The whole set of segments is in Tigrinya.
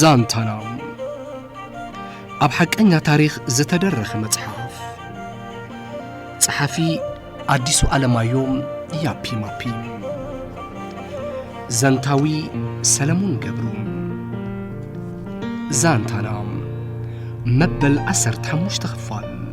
ዛንታና ኣብ ሓቀኛ ታሪኽ ዝተደረኸ መጽሓፍ ጸሓፊ ኣዲሱ ኣለማዮም ያፒ ማፒ ዘንታዊ ሰለሙን ገብሩ ዛንታና መበል ዓሰርተ ሓሙሽተ ክፋል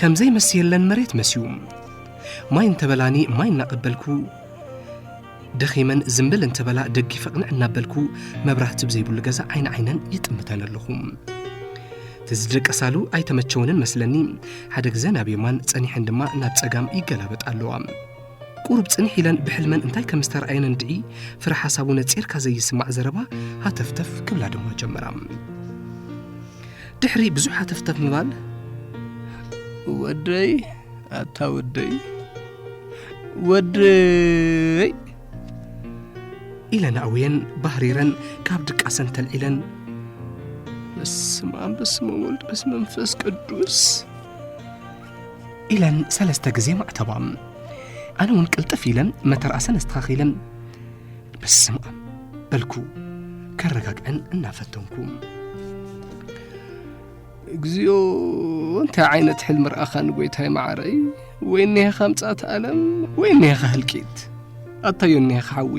ከምዘይ መስየለን መሬት መስዩ ማይ እንተበላኒ ማይ እናቐበልኩ ደኺመን ዝምብል እንተበላ ደጊፈ ቕንዕ እናበልኩ መብራህቲ ብዘይብሉ ገዛ ዓይኒ ዓይነን ይጥምተን ኣለኹ ትዝደቀሳሉ ኣይተመቸወንን መስለኒ ሓደ ግዘ ናብ የማን ጸኒሐን ድማ ናብ ጸጋም ይገላበጥ ኣለዋ ቁሩብ ጽኒሕ ኢለን ብሕልመን እንታይ ከም ዝተረኣየነን ድዒ ፍረ ሓሳቡ ነጺርካ ዘይስማዕ ዘረባ ሃተፍተፍ ክብላ ድማ ጀመራ ድሕሪ ብዙሕ ሃተፍተፍ ምባል ወደይ ኣታ ወደይ ወደይ ኢለን ኣውየን ባህሪረን ካብ ድቃሰን ተልዒለን በስመ ኣብ በስመ ወልድ በስመ መንፈስ ቅዱስ ኢለን ሰለስተ ግዜ ማዕተባም ኣነ እውን ቅልጥፍ ኢለን መተርኣሰን ኣስተኻኺለን በስምኣም በልኩ ከረጋግዐን እናፈተንኩ እግዚኣብኦ እንታይ ዓይነት ሕልሚ ረኣኻ ንጎይታይ ማዕረይ ወይ እኒሄኻ ምጻት ኣለም ወይ እኒሄኻ ህልቂት ኣታዮ እኒሄኻ ሓዊ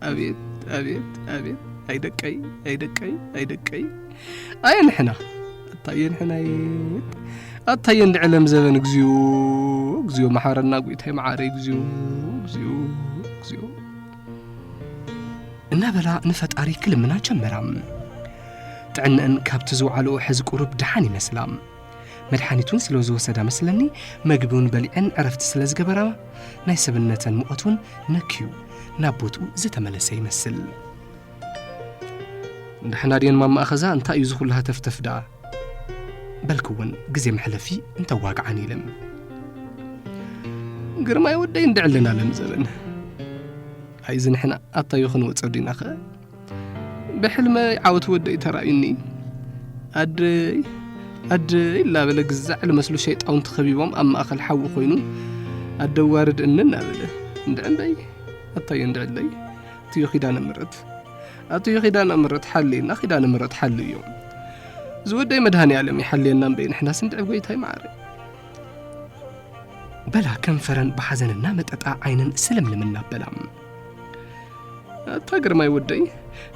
ኣቤት ኣቤት ኣቤት ኣይደቀይ ኣይደቀይ ኣይደቀይ ኣየ ንሕና ኣታየ ንሕናየ ኣታየ እንዲ ዕለም ዘበን እግዚኡ እግዚኡ መሓረና ጉይታይ መዓረ እግዚኡ እግዚኡ እግዚኡ እናበላ ንፈጣሪ ክልምና ጀመራ ጥዕነአን ካብቲ ዝውዓልኦ ሕዚ ቁሩብ ድሓን ይመስላ መድሓኒቱን ስለ ዝወሰዳ መስለኒ መግቢውን በሊዐን ዕረፍቲ ስለ ዝገበራ ናይ ሰብነተን ሙቐት እውን ነክዩ ናብ ቦትኡ ዝተመለሰ ይመስል ንድሕና ድየን ማማ ኣኸዛ እንታይ እዩ ዝኹሉ ሃተፍተፍ ደኣ በልክውን ግዜ መሕለፊ እንተዋግዓን ኢለም ግርማይ ወደይ እንድዕ ኣለና ለም ዘበን ኣይዚ ንሕና ኣብታዮ ክንወፀ ዲና ኸ ብሕልመይ ዓወት ወደይ ተራእዩኒ ኣደይ ኣደይ ላበለ ግዛዕ ልመስሉ ሸይጣውንቲ ኸቢቦም ኣብ ማእኸል ሓዊ ኮይኑ ኣደዋርድ እንን ኣበለ እንድዕ እምበይ ኣታዮ እንድዕለይ ኣቱዩ ኪዳነ ምረት ኣቱዩ ኪዳነ ምረት ሓልየና ኪዳነ ምረት ሓሉ እዮም ዝወደይ መድሃኒ ዓለም ይሓልየና እምበይ ንሕና ስንድዕ ጎይታይ ማዕረ በላ ከንፈረን ብሓዘንና መጠጣ ዓይነን ስልምልም እናበላ ኣታ ግርማይ ወደይ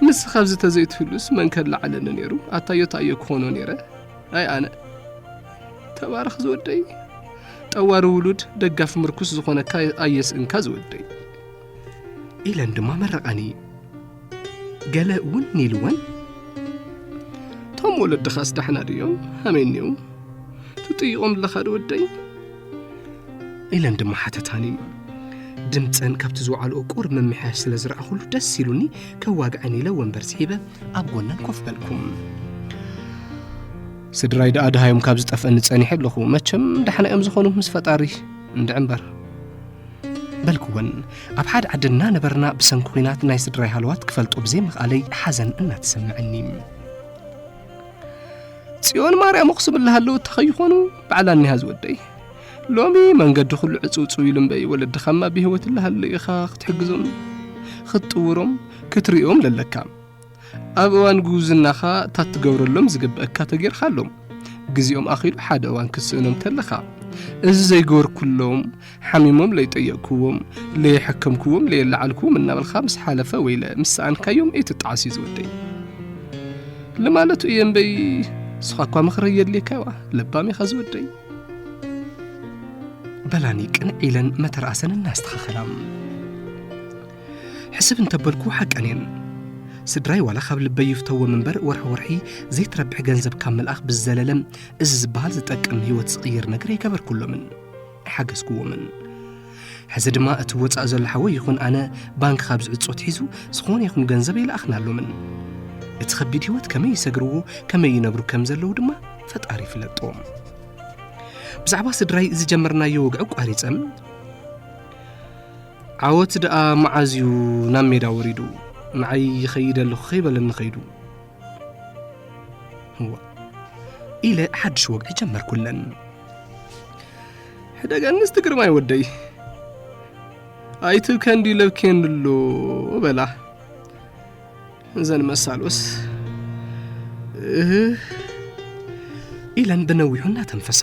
ምስ ካብዚ ተዘይትህሉስ መን ከላዓለኒ ነይሩ ኣታዮ ታዮ ክኾኖ ነይረ ኣይ ኣነ ተባረኽ ዝወደይ ጠዋሪ ውሉድ ደጋፊ ምርኩስ ዝኾነካ ኣየስእንካ ዝወደይ ኢለን ድማ መረቐኒ ገለ እውን ኢልወን እቶም ወለድኻስ ዳሕና ድዮም ሃመይ እኒው ትጥይቖም ኣለኻ ዶ ወደይ ኢለን ድማ ሓተታኒ ድምፀን ካብቲ ዝወዓልኦ ቁር ምምሕያሽ ስለ ዝረኣኹሉ ደስ ኢሉኒ ከዋግዐን ኢለ ወንበር ስሒበ ኣብ ጎነን ኮፍ በልኩም ስድራይ ደኣ ድሃዮም ካብ ዝጠፍአኒ ጸኒሐ ኣለኹ መቸም ዳሕና እዮም ዝኾኑ ምስ ፈጣሪ እንድዕምበር በልክወን ኣብ ሓደ ዓዲ እናነበርና ብሰንኪ ኩናት ናይ ስድራይ ሃለዋት ክፈልጦ ብዘይምኽኣለይ ሓዘን እናተሰምዐኒ ጽዮን ማርያም ኣኽሱም እላሃለዉ እታ ከይኾኑ ባዕላ እኒሃ ዝወደይ ሎሚ መንገዲ ኩሉ ዕፅውፅው ኢሉ እምበይ ወለድኻማ ብሂወት እላሃለዩ ኢኻ ክትሕግዞም ክትጥውሮም ክትሪኦም ለለካ ኣብ እዋን ጉብዝናኻ እታ ትገብረሎም ዝግብእካ ተጌርካሎም ግዜኦም ኣኺሉ ሓደ እዋን ክትስእኖም ተለኻ እዚ ዘይገበርኩሎም ሓሚሞም ለይጠየቕክዎም ለየሐከምክዎም ለየለዓልክዎም እናበልካ ምስ ሓለፈ ወይለ ምስ ሰኣንካዮም እይትጣዓስ እዩ ዝወደይ ልማለቱ እየ እምበይ ንስኻ እኳ ምኽሪ የድልየካ ይዋ ለባም ኢኻ ዝወደይ በላኒ ቅንዕ ኢለን መተርኣሰን እናስተኻኸላ ሕስብ እንተበልኩ ሓቀን እየን ስድራይ ዋላ ካብ ልበይ ይፍተዎም እምበር ወርሒ ወርሒ ዘይትረብሕ ገንዘብ ካብ ምልኣኽ ብዝዘለለ እዚ ዝበሃል ዝጠቅም ህይወት ዝቕይር ነገር ኣይገበርኩሎምን ኣይሓገዝኩዎምን ሕዚ ድማ እቲ ወፃእ ዘሎ ሓወይ ይኹን ኣነ ባንክ ካብ ዝዕፆ ትሒዙ ዝኾነ ይኹን ገንዘብ ኣይለኣኽናሎምን እቲ ከቢድ ህይወት ከመይ ይሰግርዎ ከመይ ይነብሩ ከም ዘለዉ ድማ ፈጣሪ ይፍለጦ ብዛዕባ ስድራይ ዝጀመርናዮ ወግዒ ቋሪፀም ዓወት ደኣ መዓዝ እዩ ናብ ሜዳ ወሪዱ ንዓይ ይኸይድ ኣለኹ ከይበለኒ ኸይዱ እዋ ኢለ ሓድሽ ወግዒ ጀመርኩለን ሕደገኒ እስቲ ግርማይ ወደይ ኣይትብከ እንዲዩ ለብኬንሉ በላ እዘን መሳሎስ እህ ኢለን ብነዊሑ እናተንፈሳ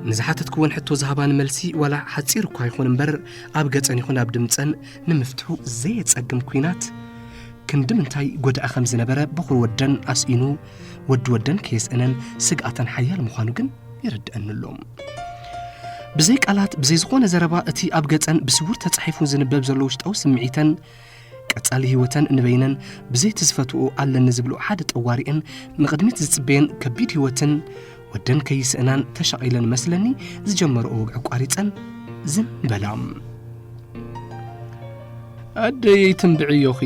ንዝሓተትክወን ሕቶ ዝሃባን መልሲ ዋላ ሓፂር እኳ ይኹን እምበር ኣብ ገፀን ይኹን ኣብ ድምፀን ንምፍትሑ ዘየፀግም ኩናት ክንዲ ምንታይ ጎድኣ ከም ዝነበረ በኹር ወደን ኣስኢኑ ወዲ ወደን ከየስእነን ስግኣተን ሓያል ምዃኑ ግን የረድአኒ ኣሎ ብዘይ ቃላት ብዘይ ዝኾነ ዘረባ እቲ ኣብ ገፀን ብስውር ተፃሒፉ ዝንበብ ዘሎ ውሽጣዊ ስምዒተን ቀጻሊ ህይወተን ንበይነን ብዘይ እቲ ዝፈትውኦ ኣለኒ ዝብልኦ ሓደ ጠዋሪኤን ንቕድሚት ዝጽበየን ከቢድ ህይወትን ወደን ከይስእናን ተሻቒለን መስለኒ ዝጀመረኦ ወግዒ ኣቋሪጸን ዝም በላ። ኣደየይ ትንብዕዮኺ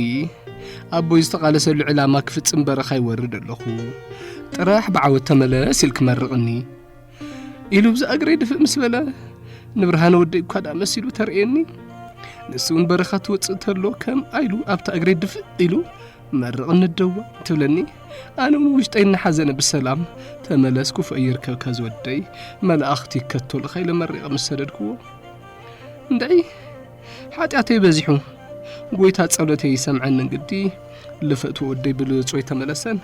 ኣቦይ ዝተቓለሰሉ ዕላማ ክፍጽም በረኻ ይወርድ ኣለኹ ጥራሕ ብዓወት ተመለስ ኢል ክመርቕኒ ኢሉ ብዛ እግረይ ድፍእ ምስ በለ ንብርሃነ ወደይ እኳ ደኣ መሲሉ ተርእየኒ ንሱ እውን በረኻ ትወፅእ ተሎ ከም ኣይሉ ኣብታ እግረይ ድፍእ ኢሉ መርቕ ንደዋ ትብለኒ ኣነ እውን ውሽጠይ እናሓዘነ ብሰላም ተመለስኩ ፈይርከብካ ዝወደይ መላእኽቲ ይከተሉኻ ኢለ መሪቐ ምስ ሰደድክዎ እንድዒ ሓጢኣተይ በዚሑ ጎይታ ጸሎተይ ይሰምዐኒ እንግዲ ልፈትዎ ወደይ ብልጾይ ተመለሰን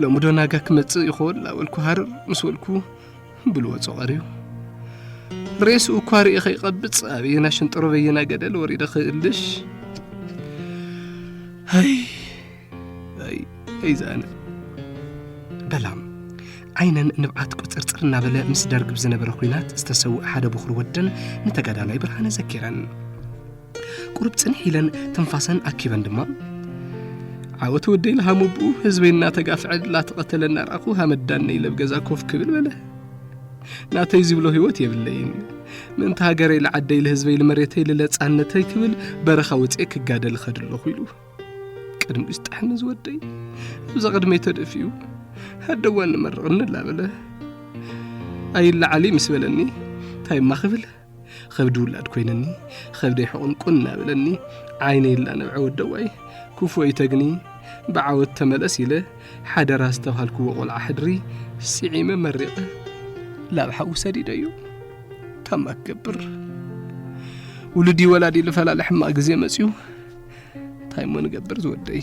ሎሚ ዶ ናጋ ክመጽእ ይኸውን ላበልኩ ሃርር ምስ በልኩ ብልወጾ ቀርዩ ሬስኡ እኳ ርእየ ከይቐብጽ ኣበየና ሽንጥሮ በየና ገደል ወሪደ ክእልሽ ኣይ ኣይ ኣይ ዝኣነ በላም ዓይነን ንብዓት ቁፅርፅር እናበለ ምስ ደርግ ብዝነበረ ኩናት ዝተሰውእ ሓደ ብኹር ወደን ንተጋዳላይ ብርሃነ ዘኪረን ቁሩብ ጽንሕ ኢለን ትንፋሰን ኣኪበን ድማ ዓወት ወደይ ልሃሙብኡ ህዝበይ እናተጋፍዐ ላተቐተለ እናርኣኹ ሃመዳነ ኢለ ገዛ ኮፍ ክብል በለ ናተይ ዝብሎ ህይወት የብለይን ምእንቲ ሃገረይ ልዓደይ ልህዝበይ ልመሬተይ ልለጻነተይ ክብል በረኻ ወፅኤ ክጋደል ኸድ ኣለኹ ኢሉ ቅድሚ ዝጠሐኒ ዝወደይ እዛ ቅድመይ ተደፊኡ ሃደዋ ንመርቕኒ ላበለ ኣይለዓሊ ምስ በለኒ ታይማ ክብል ኸብዲ ውላድ ኮይንኒ ኸብደይ ሕቑን ቁን እናበለኒ ዓይነይ ላነብዐ ወደዋይ ኩፉ ኣይተግኒ ብዓወት ተመለስ ኢለ ሓደራ ዝተባሃልክዎ ቆልዓ ሕድሪ ስዒመ መሪቐ ላብ ሓዊ ሰዲደዩ ታማ ክገብር ውሉዲ ወላዲ ልፈላለ ሕማቕ ግዜ መፅዩ እንታይ እሞ ንገብር ዝወደይ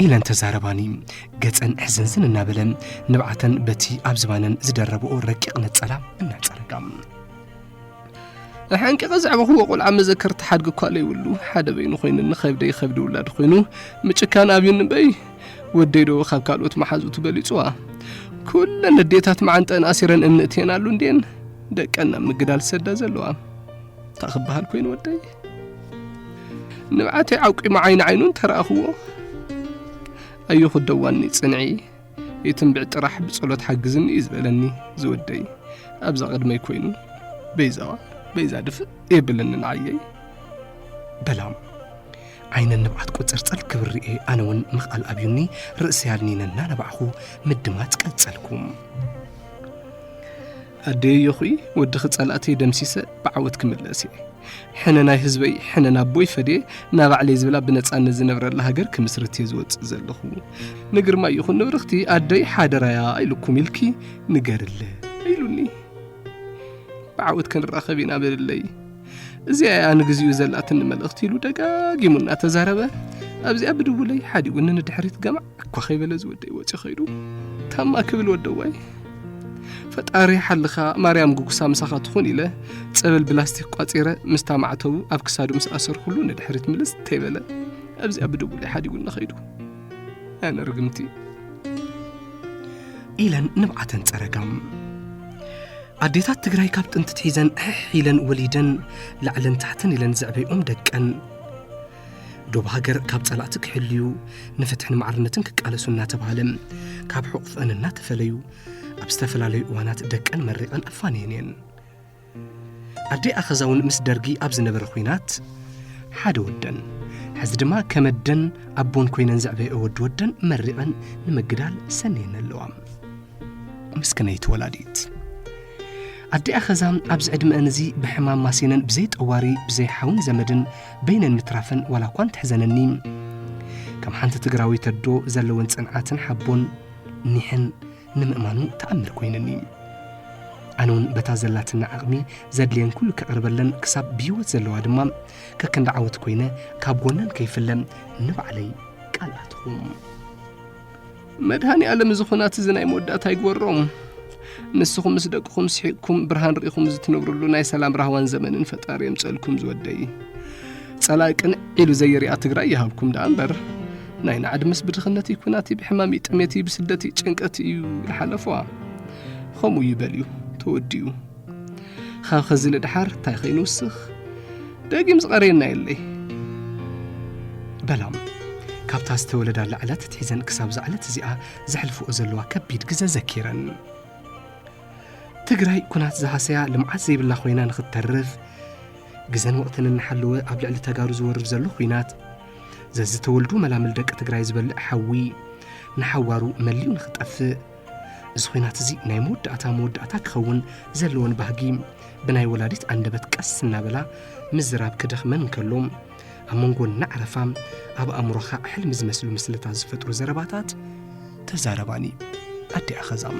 ኢለን ተዛረባኒ ገፀን ሕዝንዝን እናበለ ንብዓተን በቲ ኣብ ዝባነን ዝደረብኦ ረቂቕ ነፀላ እናፀረጋ ኣሓንቂቐ ዘዕበኹዎ ቆልዓ መዘከር ተሓድግ እኳ ለይብሉ ሓደ በይኑ ኮይኑኒ ከብደይ ከብዲ ውላድ ኮይኑ ምጭካን ኣብዩኒ በይ ወደይ ዶ ካብ ካልኦት መሓዙቱ በሊፅዋ ኩለን ንዴታት መዓንጠን ኣሲረን እምኒ እትየን ኣሉ እንድየን ደቀን ናብ ምግዳል ዝሰዳ ዘለዋ እንታይ ክበሃል ኮይኑ ወደይ ንብዓተይ ዓቂሙ ዓይኒ ዓይኑ እንተረኣኽዎ ኣዮ ክደዋኒ ፅንዒ የትንብዕ ጥራሕ ብጸሎት ሓግዝኒ እዩ ዝበለኒ ዝወደይ ኣብዛ ቅድመይ ኮይኑ በይዛዋ በይዛ ድፍእ የብለኒ ንዓየይ በላም ዓይነ ንብዓት ቁፅርፅር ክብር ርኤ ኣነ እውን ምኽኣል ኣብዩኒ ርእሲ ያልኒነ እናነባዕኹ ምድማፅ ቀጸልኩም ኣደይ ዮኺ ወድኺ ጸላእተይ ደምሲሰ ብዓወት ክምለስ እየ ሕነ ናይ ህዝበይ ሕነ ናቦይ ፈድየ ናባዕለይ ዝብላ ብነጻነት ዝነብረላ ሃገር ክምስርት እየ ዝወጽእ ዘለኹ ንግርማ ይኹን ንብርኽቲ ኣደይ ሓደራያ ኢልኩም ኢልኪ ንገርለ ኢሉኒ ብዓወት ክንራኸብ ኢና በልለይ እዚኣ እያ ንግዚኡ ዘላትኒ መልእኽቲ ኢሉ ደጋጊሙ እናተዛረበ ኣብዚኣ ብድውለይ ሓዲኡኒ ንድሕሪት ገማዕ እኳ ከይበለ እዚ ወደይ ወፂ ከይዱ ታማ ክብል ወደዋይ ፈጣሪ ሓልኻ ማርያም ጉጉሳ ምሳኻ ትኹን ኢለ ፀበል ብላስቲክ ቋፂረ ምስታ ማዕተቡ ኣብ ክሳዱ ምስ ኣሰርኩሉ ንድሕሪት ምልስ ተይበለ ኣብዚኣ ብድቡለይ ሓዲጉኒ ከይዱ ኣነ ርግምቲ ኢለን ንብዓተን ፀረጋም ኣዴታት ትግራይ ካብ ጥንቲ ትሒዘን ሕሕ ኢለን ወሊደን ላዕለን ታሕተን ኢለን ዘዕበይኦም ደቀን ዶብ ሃገር ካብ ጸላእቲ ክሕልዩ ንፍትሕን ማዕርነትን ክቃለሱ እናተባህለ ካብ ሕቑፍአን እናተፈለዩ ኣብ ዝተፈላለዩ እዋናት ደቀን መሪቐን ኣፋንየን እየን ኣደይ ኣኸዛ እውን ምስ ደርጊ ኣብ ዝነበረ ኹናት ሓደ ወደን ሕዚ ድማ ከመደን ኣቦን ኮይነን ዘዕበየኦ ወዲ ወደን መሪቐን ንምግዳል ሰነየን ኣለዋ ምስክነይቲ ወላዲት ኣዲኣ ኸዛ ኣብዚ ዕድመአን እዚ ብሕማም ማሲነን ብዘይ ጠዋሪ ብዘይ ሓውን ዘመድን በይነን ምትራፈን ዋላ እኳ እንተሕዘነኒ ከም ሓንቲ ትግራዊት ኣዶ ዘለወን ጽንዓትን ሓቦን ኒሕን ንምእማኑ ተኣምር ኮይንኒ ኣነ እውን በታ ዘላትና ዓቕሚ ዘድልየን ኩሉ ከቕርበለን ክሳብ ብህይወት ዘለዋ ድማ ከከንዲ ዓወት ኮይነ ካብ ጎነን ከይፍለ ንባዕለይ ቃል ኣትኹም መድሃኒ ኣለም እዚ ኹናት እዚ ናይ መወዳእታ ይግበሮም ንስኹም ምስ ደቅኹም ስሒቕኩም ብርሃን ርኢኹም ዝትነብርሉ ናይ ሰላም ራህዋን ዘመንን ፈጣሪ የምፀልኩም ዝወደይ ፀላኢ ቅንዕ ኢሉ ዘይርኣ ትግራይ ይሃብኩም ደኣ እምበር ናይ ናዕዲ ምስ ብድኽነት እዩ ኩናት እዩ ብሕማም እዩ ጥሜት እዩ ብስደት እዩ ጭንቀት እዩ ይሓለፏ ከምኡ ይበል እዩ ተወዲኡ ኸ ኸዚ ንድሓር ታይ ኸይኑ ውስኽ ደጊም ዝቐረየና የለይ በላም ካብታ ዝተወለዳላ ዕለት ትሒዘን ክሳብ ዝዕለት እዚኣ ዘሕልፍኦ ዘለዋ ከቢድ ግዘ ዘኪረን ትግራይ ኩናት ዝሃሰያ ልምዓት ዘይብላ ኮይና ንኽትተርፍ ግዘን ወቕትን እናሓለወ ኣብ ልዕሊ ተጋሩ ዝወርድ ዘሎ ኩናት ዘዝተወልዱ መላምል ደቂ ትግራይ ዝበልዕ ሓዊ ንሓዋሩ መሊኡ ንኽጠፍእ እዚ ኹናት እዚ ናይ መወዳእታ መወዳእታ ክኸውን ዘለዎን ባህጊ ብናይ ወላዲት ኣንደበት ቀስ እናበላ ምዝራብ ክደኽመን እንከሎ ኣብ መንጎ እናዕረፋ ኣብ ኣእምሮኻ ሕልሚ ዝመስሉ ምስልታት ዝፈጥሩ ዘረባታት ተዛረባኒ ኣዲ ኣኸዛም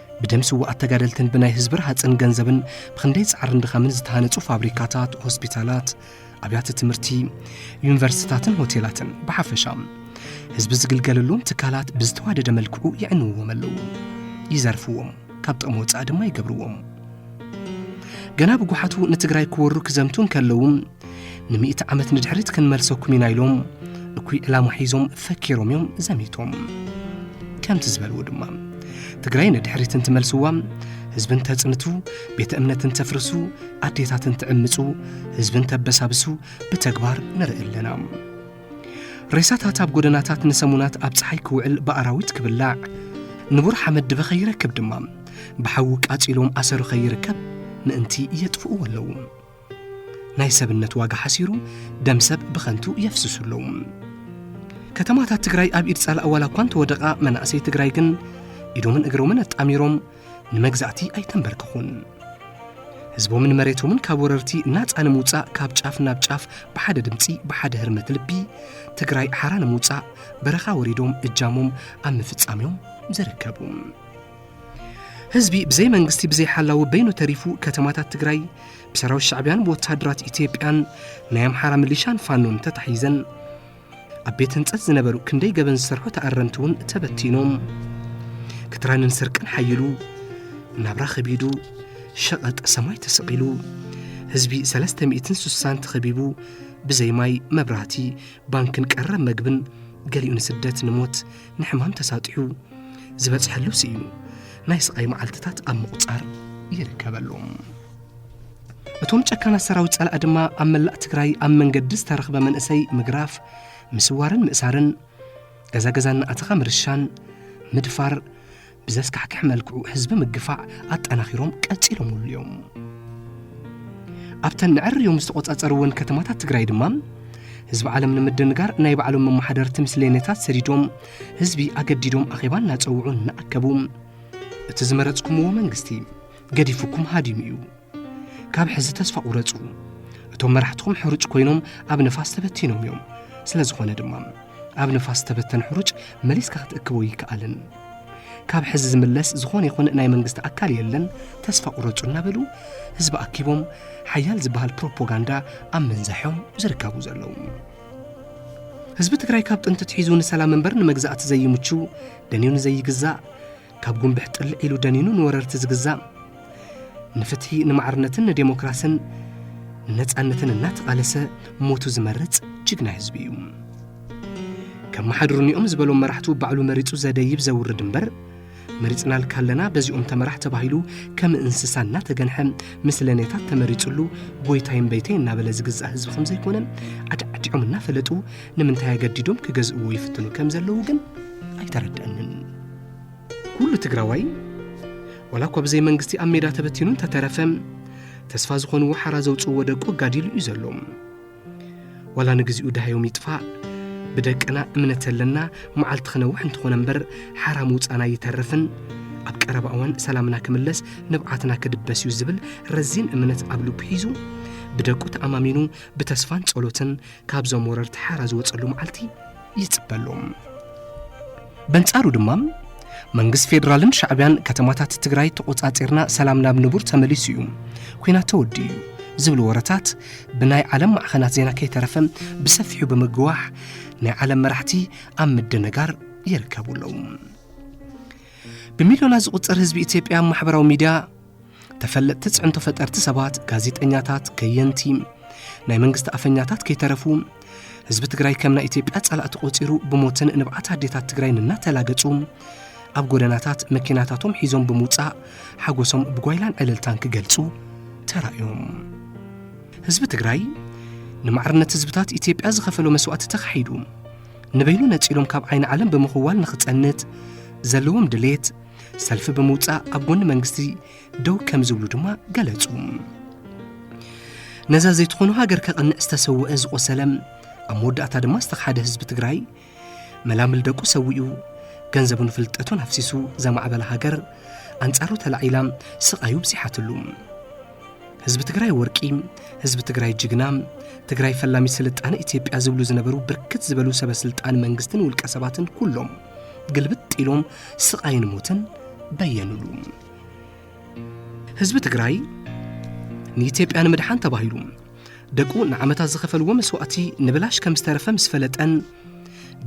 ብደም ስዋኣት ተጋደልትን ብናይ ህዝቢ ረሃፅን ገንዘብን ብክንደይ ፃዕርን ድኻምን ዝተሃነፁ ፋብሪካታት ሆስፒታላት ኣብያተ ትምህርቲ ዩኒቨርሲቲታትን ሆቴላትን ብሓፈሻ ህዝቢ ዝግልገለሎም ትካላት ብዝተዋደደ መልክዑ የዕንውዎም ኣለዉ ይዘርፍዎም ካብ ጥቕሚ ወፃኢ ድማ ይገብርዎም ገና ብጉሓቱ ንትግራይ ክወሩ ክዘምቱ እንከለዉ ንሚእቲ ዓመት ንድሕሪት ክንመልሰኩም ኢና ኢሎም እኩይ ዕላማ ሒዞም ፈኪሮም እዮም ዘሚቶም ከምቲ ዝበልዎ ድማ ትግራይ ንድሕሪት እንትመልስዋ ህዝቢ እንተጽንቱ ቤተ እምነት እንተፍርሱ ኣዴታት እንትዕምፁ ህዝቢ እንተበሳብሱ ብተግባር ንርኢ ኣለና ሬሳታት ኣብ ጎደናታት ንሰሙናት ኣብ ፀሓይ ክውዕል ብኣራዊት ክብላዕ ንቡር ሓመድ ድበ ኸይረክብ ድማ ብሓዊ ቃፂሎም ኣሰሩ ኸይርከብ ምእንቲ የጥፍእዎ ኣለዉ ናይ ሰብነት ዋጋ ሓሲሩ ደም ሰብ ብኸንቱ የፍስሱ ኣለዉ ከተማታት ትግራይ ኣብ ኢድ ጸላእ ዋላ እኳ እንተወደቓ መናእሰይ ትግራይ ግን ኢዶምን እግሮምን ኣጣሚሮም ንመግዛእቲ ኣይተንበርከኹን ህዝቦምን መሬቶምን ካብ ወረርቲ ናፃ ንምውፃእ ካብ ጫፍ ናብ ጫፍ ብሓደ ድምፂ ብሓደ ህርመት ልቢ ትግራይ ሓራ ንምውፃእ በረኻ ወሪዶም እጃሞም ኣብ ምፍጻም እዮም ዝርከቡ ህዝቢ ብዘይ መንግስቲ ብዘይ ሓላዊ በይኑ ተሪፉ ከተማታት ትግራይ ብሰራዊት ሻዕብያን ብወታደራት ኢትዮጵያን ናይ ኣምሓራ ምሊሻን ፋኖን ተታሒዘን ኣብ ቤት ህንፀት ዝነበሩ ክንደይ ገበን ዝሰርሑ ተኣረምቲ እውን ተበቲኖም ክትራንን ስርቅን ሓይሉ ናብራ ከቢዱ ሸቐጥ ሰማይ ተሰቒሉ ህዝቢ 360 ተኸቢቡ ብዘይ ማይ መብራህቲ ባንክን ቀረብ መግብን ገሊኡ ንስደት ንሞት ንሕማም ተሳጢሑ ዝበፅሐሉ ስኢኑ ናይ ስቓይ መዓልትታት ኣብ ምቑፃር ይርከበሉ እቶም ጨካናት ሰራዊት ፀላእ ድማ ኣብ መላእ ትግራይ ኣብ መንገዲ ዝተረኽበ መንእሰይ ምግራፍ ምስዋርን ምእሳርን ገዛ ገዛ እናኣተኻ ምርሻን ምድፋር ብዘስካሕክሕ መልክዑ ህዝቢ ምግፋዕ ኣጠናኺሮም ቀፂሎምሉ እዮም። ኣብተን ንዕርዮም ዝተቖፃፀርወን ከተማታት ትግራይ ድማ ህዝቢ ዓለም ንምድንጋር ናይ ባዕሎም መማሓደርቲ ምስሌነታት ሰዲዶም ህዝቢ ኣገዲዶም ኣኼባ እናፀውዑ እናኣከቡ እቲ ዝመረፅኩምዎ መንግስቲ ገዲፉኩም ሃዲሙ እዩ ካብ ሕዚ ተስፋ ቁረጹ እቶም መራሕትኹም ሕሩጭ ኮይኖም ኣብ ንፋስ ተበቲኖም እዮም ስለ ዝኾነ ድማ ኣብ ንፋስ ተበተን ሕሩጭ መሊስካ ክትእክቦ ይከኣልን ካብ ሕዚ ዝምለስ ዝኾነ ይኹን ናይ መንግስቲ ኣካል የለን ተስፋ ቁረጹ እናበሉ ህዝቢ ኣኪቦም ሓያል ዝበሃል ፕሮፓጋንዳ ኣብ ምንዛሖም ዝርከቡ ዘለዉ ህዝቢ ትግራይ ካብ ጥንቲ ትሒዙ ንሰላም እምበር ንመግዛእቲ ዘይምቹ ደንዩ ንዘይግዛእ ካብ ጉንብሕ ጥልዕ ኢሉ ደኒኑ ንወረርቲ ዝግዛእ ንፍትሒ ንማዕርነትን ንዴሞክራስን ንነፃነትን እናተቓለሰ ሞቱ ዝመርፅ ጅግና ህዝቢ እዩ ከም መሓድሩኒኦም ዝበሎም መራሕቱ ባዕሉ መሪፁ ዘደይብ ዘውርድ እምበር መሪፅናልካ ኣለና በዚኦም ተመራሕ ተባሂሉ ከም እንስሳ እናተገንሐ ምስለኔታት ተመሪፅሉ ጎይታይ እምበይተይ እናበለ ዝግዛእ ህዝቢ ከም ዘይኮነ ኣድዓዲዖም እናፈለጡ ንምንታይ ኣገዲዶም ክገዝእዎ ይፍትኑ ከም ዘለዉ ግን ኣይተረድአንን ኩሉ ትግራዋይ ዋላ እኳ ብዘይ መንግስቲ ኣብ ሜዳ ተበቲኑ እንተተረፈ ተስፋ ዝኾንዎ ሓራ ዘውፅእዎ ደቁ ኣጋዲሉ እዩ ዘሎ ዋላ ንግዚኡ ድሃዮም ይጥፋእ ብደቅና እምነት ኣለና መዓልቲ ክነውሕ እንትኾነ እምበር ሓራ ምውፃና ይተርፍን ኣብ ቀረባ እዋን ሰላምና ክምለስ ንብዓትና ክድበስ እዩ ዝብል ረዚን እምነት ኣብ ልቡ ሒዙ ብደቁ ተኣማሚኑ ብተስፋን ጸሎትን ካብዞም ወረርቲ ሓራ ዝወፀሉ መዓልቲ ይፅበ ኣሎ በንጻሩ ድማ መንግስት ፌዴራልን ሻዕብያን ከተማታት ትግራይ ተቖጻጺርና ሰላም ናብ ንቡር ተመሊሱ እዩ ኩናት ተወዲ እዩ ዝብሉ ወረታት ብናይ ዓለም ማዕኸናት ዜና ከይተረፈ ብሰፊሑ ብምግዋሕ ናይ ዓለም መራሕቲ ኣብ ምድንጋር ይርከቡ ኣለዉ ብሚልዮናት ዝቝጸር ህዝቢ ኢትዮጵያ ማሕበራዊ ሚድያ ተፈለጥቲ ፅዕንቶ ፈጠርቲ ሰባት ጋዜጠኛታት ከየንቲ ናይ መንግስቲ ኣፈኛታት ከይተረፉ ህዝቢ ትግራይ ከም ናይ ኢትዮጵያ ጸላእቲ ቆፂሩ ብሞትን ንብዓት ኣዴታት ትግራይን እናተላገጹ ኣብ ጎደናታት መኪናታቶም ሒዞም ብምውፃእ ሓጎሶም ብጓይላን ዕልልታን ክገልጹ ተራእዮም ህዝቢ ትግራይ ንማዕርነት ህዝብታት ኢትዮጵያ ዝኸፈሎ መስዋእቲ ተኻሒዱ ንበይኑ ነጺሎም ካብ ዓይኒ ዓለም ብምኽዋል ንኽጸንት ዘለዎም ድሌት ሰልፊ ብምውፃእ ኣብ ጎኒ መንግስቲ ደው ከም ዝብሉ ድማ ገለጹ ነዛ ዘይትኾኑ ሃገር ከቕንዕ ዝተሰውአ ዝቖሰለ ኣብ መወዳእታ ድማ ዝተኻሓደ ህዝቢ ትግራይ መላምል ደቁ ሰዊኡ ገንዘቡን ፍልጠቱን ኣፍሲሱ ዘማዕበለ ሃገር ኣንጻሩ ተላዒላ ስቓዩ ብዚሓትሉ ህዝቢ ትግራይ ወርቂ ህዝቢ ትግራይ ጅግና ትግራይ ፈላሚት ስልጣነ ኢትዮጵያ ዝብሉ ዝነበሩ ብርክት ዝበሉ ሰበስልጣን መንግስትን ውልቀ ሰባትን ኩሎም ግልብጥ ኢሎም ስቓይን ሞትን በየንሉ። ህዝቢ ትግራይ ንኢትዮጵያ ንምድሓን ተባሂሉ ደቁ ንዓመታት ዝኸፈልዎ መስዋእቲ ንብላሽ ከም ዝተረፈ ምስ ፈለጠን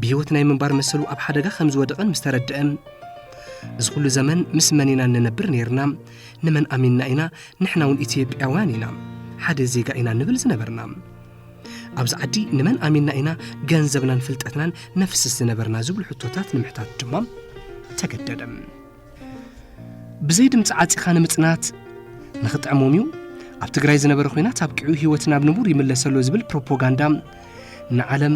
ብህይወት ናይ ምንባር መሰሉ ኣብ ሓደጋ ከም ዝወደቐን ምስ ተረድአ እዚ ኩሉ ዘመን ምስ መን ኢና እንነብር ነይርና ንመን ኣሚንና ኢና ንሕና እውን ኢትዮጵያውያን ኢና ሓደ ዜጋ ኢና ንብል ዝነበርና ኣብዚ ዓዲ ንመን ኣሚንና ኢና ገንዘብናን ፍልጠትናን ነፍስስ ዝነበርና ዝብሉ ሕቶታት ንምሕታት ድማ ተገደደ ብዘይ ድምፂ ዓፂኻ ንምፅናት ንኽጥዕሞም እዩ ኣብ ትግራይ ዝነበረ ኩናት ኣብቂዑ ህይወት ናብ ንቡር ይምለሰሎ ዝብል ፕሮፓጋንዳ ንዓለም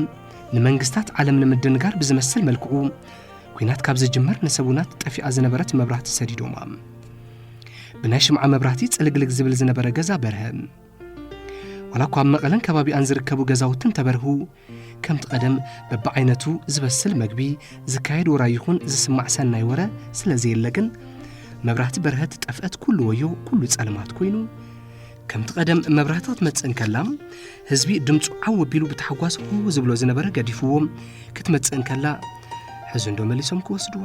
ንመንግስታት ዓለም ንምድንጋር ብዝመስል መልክዑ ኩናት ካብ ዝጅመር ንሰቡናት ጠፊኣ ዝነበረት መብራህቲ ሰዲዶማ ብናይ ሽምዓ መብራህቲ ፅልግልግ ዝብል ዝነበረ ገዛ በርሀ ዋላ እኳ ኣብ መቐለን ከባቢኣን ዝርከቡ ገዛውቲ እንተበርሁ ከምቲ ቀደም በብዓይነቱ ዝበስል መግቢ ዝካየድ ወራ ይኹን ዝስማዕ ሰናይ ወረ ስለ ዘየለ ግን መብራህቲ በርሀት ጠፍአት ኩሉ ወዮ ኩሉ ጸልማት ኮይኑ ከምቲ ቀደም መብራህቲ ክትመጽእ እንከላ ህዝቢ ድምፁ ዓው ኣቢሉ ብታሕጓስ ሁ ዝብሎ ዝነበረ ገዲፍዎም ክትመጽእ እንከላ ሕዚ እንዶ መሊሶም ክወስድዋ